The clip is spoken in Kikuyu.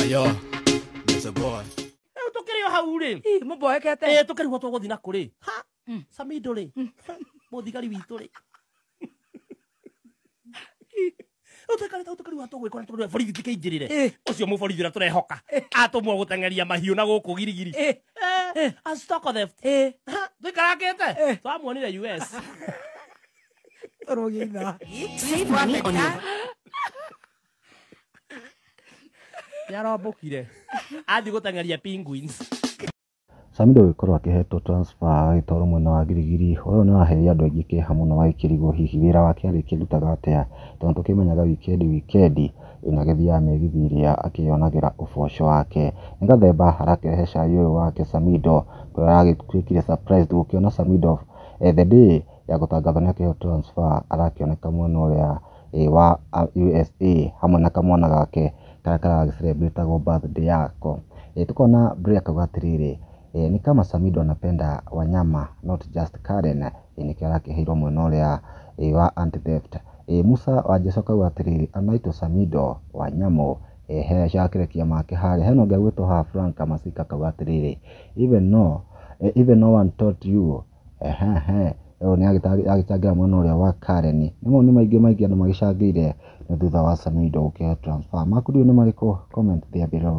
Ayo, there's a boy. Rĩu tũkĩrĩ o hau rĩ. Ih, mũmboekete. Eh, tũkĩrigwo tũgũthiĩ na kũrĩ. Ha, Samido rĩ. Mũthigari witũ rĩ. Rĩu tũikare tau tũkĩrigwo tũgwĩkwo na tũkĩrigwo borithi tũkĩingĩrĩre. Eh. Ũcio mũborithi ũrĩa tũrehoka. Atũmwo gũteng'eria mahiũ na gũkũ girigiri. Eh, Eh, a stock theft. eh. Ha, Tũikarangĩte. Eh. Twamuonire US. Throw you that. Save money on your. nĩarombũkire athiĩ gũteng'eria penguins Samido gũgĩkorwo akĩhetwo transfer agagĩtwarwo mwena wa Girigiri ũyũ nĩ waheire andũ aingĩ kĩeha mũno magĩkĩrigwo hihi wĩra wake arĩkĩrutaga atĩa tondũ tũkĩmenyaga wikendi wikendi ĩno agĩthiaga mĩgithi ĩrĩa akĩyonagĩra ũboco wake nĩ gathemba arakĩrehe cai ũyũ wake Samido kũrĩa aragĩtuĩkire surprised gũkĩona Samido eh, the day ya gũtangatha nĩ akĩheo transfer arakĩoneka mwena ũrĩa wa USA hamwe na kamwana gake karĩa kara celebrate agwo birthday yako. Tũkona Brie akauga atĩrĩrĩ, ni kama Samido anapenda wanyama not just Karen, nĩkĩo arakĩheirwo mwena ũrĩa wa anti theft. Musa Wanjesu akauga atĩrĩrĩ, anaitwa Samido Wanyamu, ehe acio a kĩrekia make harĩa. Hena ũngĩ ũgwĩtwo haha Frank Masika akauga atĩrĩrĩ, even no one taught you Ũyũ nĩ agĩtarĩ agĩcangĩra mwena ũrĩa wa Karen. Nĩ mawoni maingĩ maingĩ andũ magĩcangĩire nĩ thutha wa Samido gũkĩhe transfer. Maku rĩu nĩ marĩkũ? Comment there below.